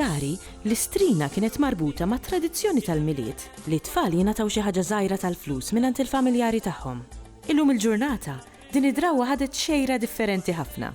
Dari, l-istrina kienet marbuta ma' tradizzjoni tal-milied li t-tfal jingħataw xi ħaġa żgħira tal-flus mingħand il-familjari tagħhom. Illum il-ġurnata, din id-drawwa ħadet xejra differenti ħafna.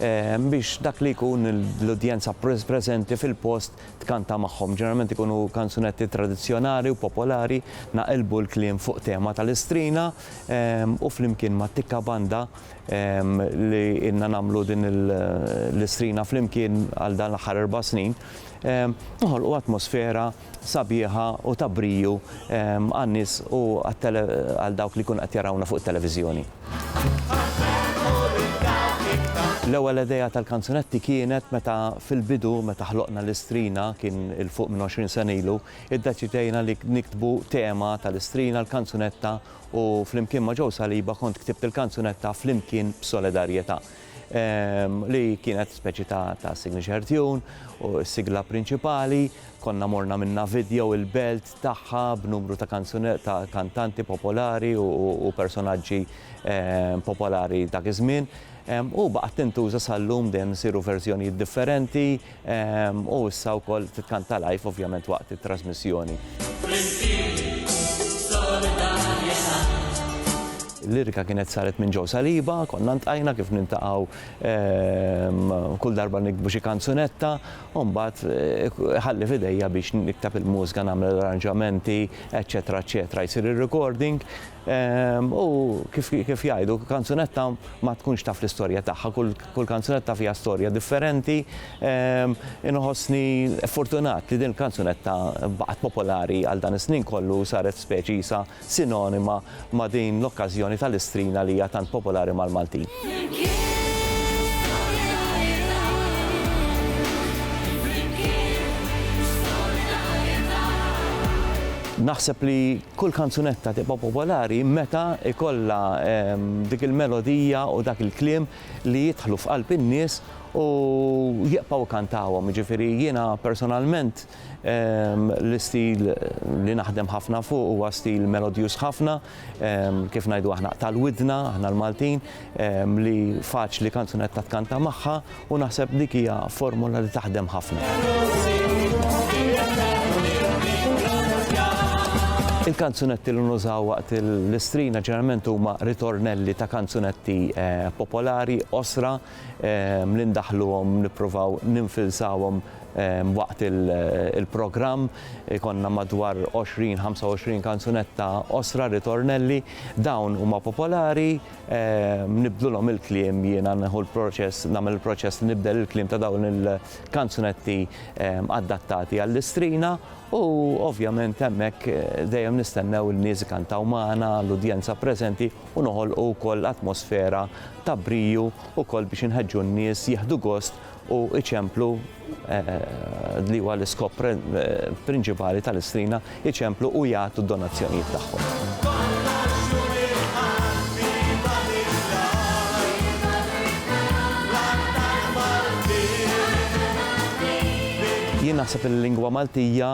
biex dak li jkun l-udjenza preżenti fil-post tkanta magħhom. Ġeneralment ikunu kanzunetti tradizzjonali u popolari, naqilbu l-kliem fuq tema tal-istrina u flimkien ma' Tikka Banda li ilna nagħmlu din l-istrina flimkien għal dan l-aħħar erba' snin, noħolqu atmosfera sabiħa u ta' briju għan-nies u għal dawk li jkunu qed jarawna fuq it-televiżjoni. L-ewwel idea tal-kanzunetti kienet meta fil-bidu meta ħloqna l-Istrina kien 'il fuq minn 20 sena ilu, iddeċidejna li niktbu tema tal-Istrina, l-kanzunetta u flimkien ma' Joe Saliba kont ktibt il-kanzunetta 'Flimkien b'Solidarjetà'. li kienet speċi ta' ta' signature tune u s-sigla prinċipali, konna morna minna video il-belt tagħha b'numru ta' kanzune ta' kantanti popolari u, u, u personaġġi ehm, popolari dak iż-żmien. Ehm, u baqgħet tintuża sal-lum dejjem isiru verżjonijiet differenti, U issa wkoll titkanta live ovvjament waqt it-trasmissjoni. L-lirika kienet saret minn Joe Saliba, konna ntqajna kif nintaqgħu kull darba nikbu xi kanzunetta, u mbagħad eh, ħalli f'idejja biex niktab il-mużika nagħmel l-arranġamenti, eċetera, eċetera, jsir ir-recording. U kif jgħidu, kanzunetta ma tkunx taf l-istorja tagħha, kull Kull kanzunetta fiha storja differenti. Inħossni fortunat li din il-kanzunetta baqgħet popolari għal dan is-snin kollu u saret speċi qisha sinonima ma' din l-okkażjoni tal-istrina li hija tant popolari mal-Maltin. Naħseb li Kull kanzunetta tibqa' popolari meta jkollha dik il-melodija u dak il-kliem li jidħlu f'qalb in-nies u jibqgħu jkantawhom. Jiġifieri jiena personalment l-istil li naħdem ħafna fuq huwa stil melodjuż ħafna, kif ngħidu aħna tal-widna, aħna l-Maltin, li faċli kanzunetta tkanta magħha. U naħseb dik hija formula li taħdem ħafna. Il-kanzunetti li nużaw waqt l-istrina ġeneralment huma ritornelli ta' kanzunetti popolari, qosra, li ndaħħluhom, nippruvaw ninfilsawhom waqt il-programm. Ikollna madwar 20, 25 kanzunetta qosra, ritornelli. Dawn huma popolari. nibdlulhom il-kliem jiena neħu l-proċess, nagħmel il-proċess li nibdel il-kliem ta' dawn il-kanzunetti ehm, adattati għall-istrina u ovvjament hemmhekk eh, dejjem nistennew il-nies kantaw magħna l-udjenza preżenti u noħolqu wkoll atmosfera ta' briju wkoll biex inħeġġu n-nies jieħdu gost u iċemplu li huwa l-iskop prinċipali tal-istrina, iċemplu u jagħtu d-donazzjonijiet tagħhom. Jien naħseb li l-lingwa Maltija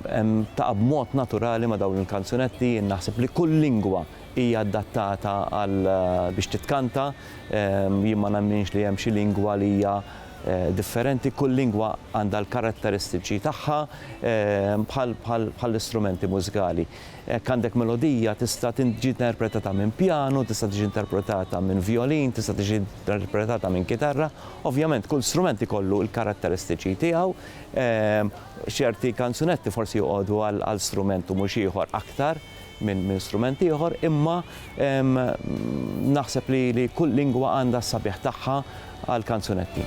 taqa' b'mod naturali ma' dawn il-kanzunetti, jien naħseb li kull lingwa hija adattata għal biex titkanta, Jien ma nemminx li hemm xi lingwa li hija differenti, kull lingwa għandha l-karatteristiċi tagħha bħall-istrumenti mużikali. Hekk għandek melodija tista' tiġi interpretata minn pjanu, tista' tiġi interpretata minn vjolin, tista' tiġi interpretata minn kitarra. Ovvjament kull strument ikollu l-karatteristiċi tiegħu, ċerti kanzunetti forsi joqogħdu għal strument u mhux ieħor aktar. minn min strument ieħor, imma naħseb li, li kull lingwa għandha s-sabiħ tagħha għal kanzunetti.